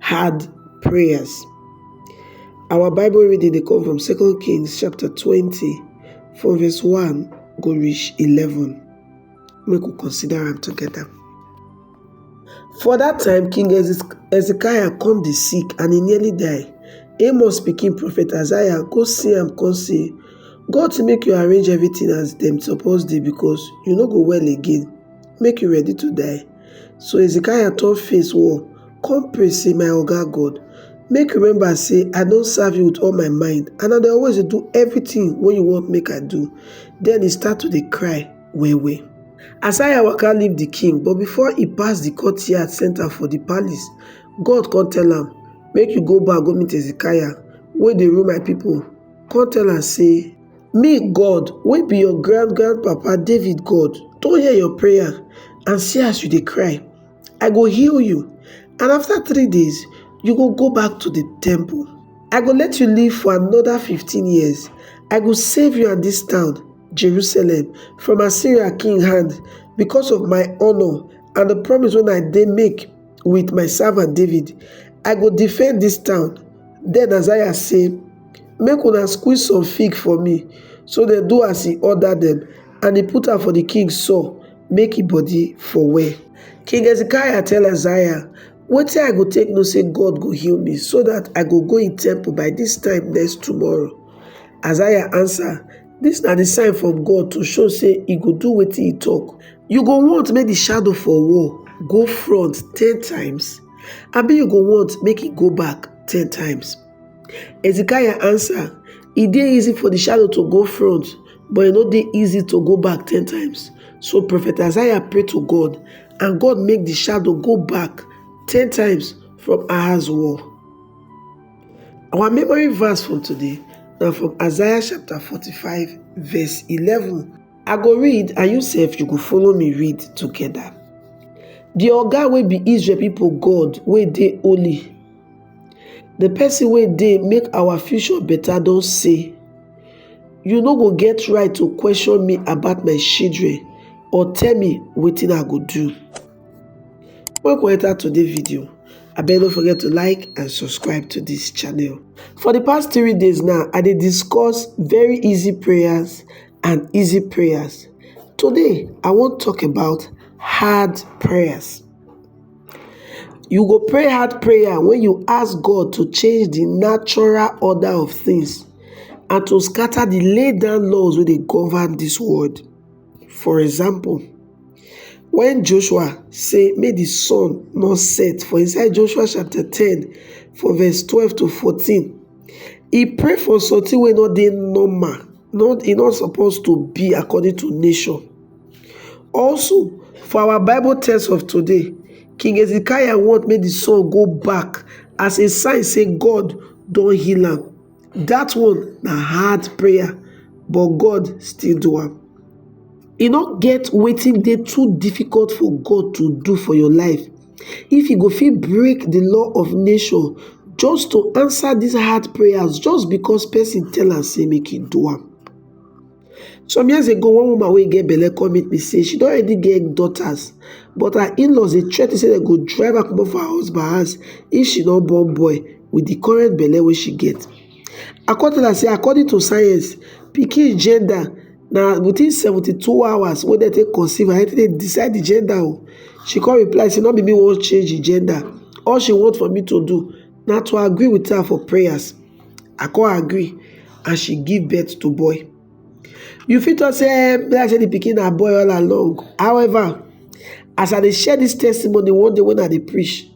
hard prayers. Our Bible reading dey come from 2 Kings chapter 20 from verse 1 go reach 11. Make we consider am together. For that time, King Hezekiah come dey sick and he nearly die. Amos pikin prophet Isaiah go see am come say, God to make you arrange everything as dem suppose dey because you no go well again, make you ready to die. So Hezekiah turn face wall, come pray say, My Oga God, make you remember say I don serve you with all my mind and I dey always dey do everything wey you want make I do. Then he start to dey cry well well. Asaya waka leave the king but before he pass the courtyard center for the palace, God come tell am, Make you go back go meet Hezekiah wey dey rule my people, come tell am say, Me, God, wey be your grand-grand-papa David God, don hear your prayer and see as you dey cry. I go heal you, and after three days, you go go back to the temple. I go let you live for another 15 years. I go save you and this town, Jerusalem, from Assyria king hand because of my honor and the promise wey I dey make wit my servant David, I go defend dis town. Den Hazael say, Make una squeeze some fig for me. So dem do as he order dem, and he put am for the king sore, make he body for well. King Hezekiah tell Hazael, Wetin I go take know say God go heal me, so that I go go in temple by dis time next tomorrow? Hazael answer, Dis na di sign from God to show sey e go do wetin e talk. You go want make di shadow for wall go front ten times, abi you go want make e go back ten times? Hezekiah answer, E dey easy for di shadow to go front, but e no dey easy to go back ten times. So Prophet Isaiah pray to God, and God make di shadow go back ten times from Ahaz wall. Our memory verse from today na from Isaiah chapter 45 verse 11. I go read and you sef you go follow me read together. The oga wey be Israel people God wey dey holy, the person wey dey make our future better don say, you no go get right to question me about my children or tell me wetin I go do. Make we enter today video. Abeg no forget to like and subscribe to this channel. For the past three days now, I dey discuss very easy prayers and easy prayers. Today, I wan talk about hard prayers. You go pray hard prayer when you ask God to change the natural order of things and to scatter the laid down laws wey dey govern this world. For example, when Joshua say make the sun not set for inside Joshua chapter 10 for verse 12 to 14, he pray for something wey not dey normal, not he not supposed to be according to nature. Also, for our Bible text of today, King Hezekiah want make the sun go back as a sign say God don heal am. Dat one na hard prayer but God still do am. E no get wetin dey too difficult for God to do for your life. If you go fit break the law of nature just to answer these hard prayers just because person tell am say make e do am. Some years ago, one woman wey get belle come meet me say she don already get daughters, but her in-laws dey threaten say dem go drive her comot for her husband house if she no born boy with the current belle wey she get. I come tell her say according to science, pikin gender na within 72 hours wey dem take conceive and dem take decide the gender o. She come reply say no be me wan change the gender, all she want for me to do na to agree with her for prayers. I come agree and she give birth to boy. You fit talk say eh, like say the pikin na boy all along. However, as I dey share this testimony one day when I dey preach,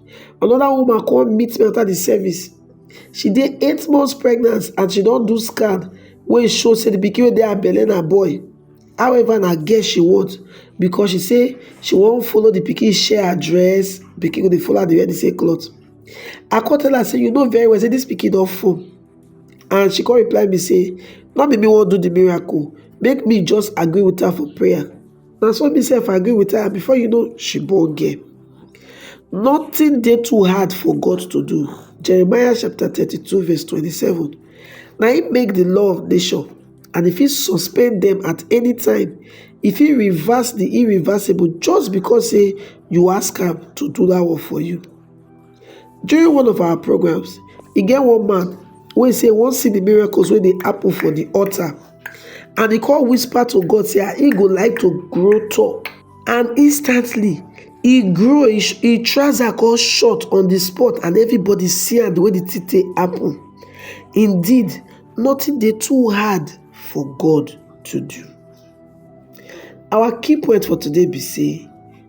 another woman come meet me after the service. She dey eight months pregnant and she don do scan wey show say the pikin wey dey her belle na boy. However, na girl she want because she say she wan follow the pikin share her dress, pikin go dey follow her dey wear the same cloth. I come tell her say you know very well say this pikin don fall and she come reply me say no be me wan do the miracle make me just agree with her for prayer na so me sef agree with her before you know she born girl nothing dey too hard for God to do Jeremiah chapter thirty-two verse twenty-seven na him make the law of nation and if he suspend them at any time if he reverse the irreversible just because say you ask am to do that one for you During one of our programs, e get one man wey say e wan see the miracles wey dey happen for the altar and e come whisper to God say ah, e go like to grow tall and instantly e grow, e sh- e trouser come short on the spot and everybody see am the way the thing take happen. Indeed, nothing dey too hard for God to do. Our key point for today be say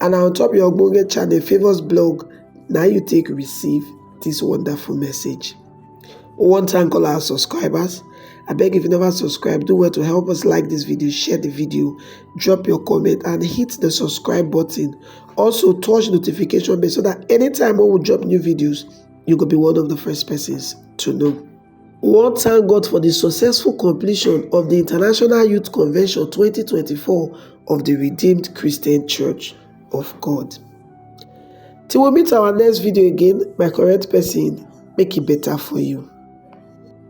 And na on top your ogbonge channel Favours blog na you take receive this wonderful message. We wan thank all our subscribers. I beg if you never subscribe, do well to help us like this video, share the video, drop your comment and hit the subscribe button. Also touch notification bell so that anytime when we drop new videos, you go be one of the first persons to know. One thank God for di successful completion of di International Youth Convention 2024 of di Redeemed Christian Church of God. Till we meet our next video again, my correct person, make e better for you.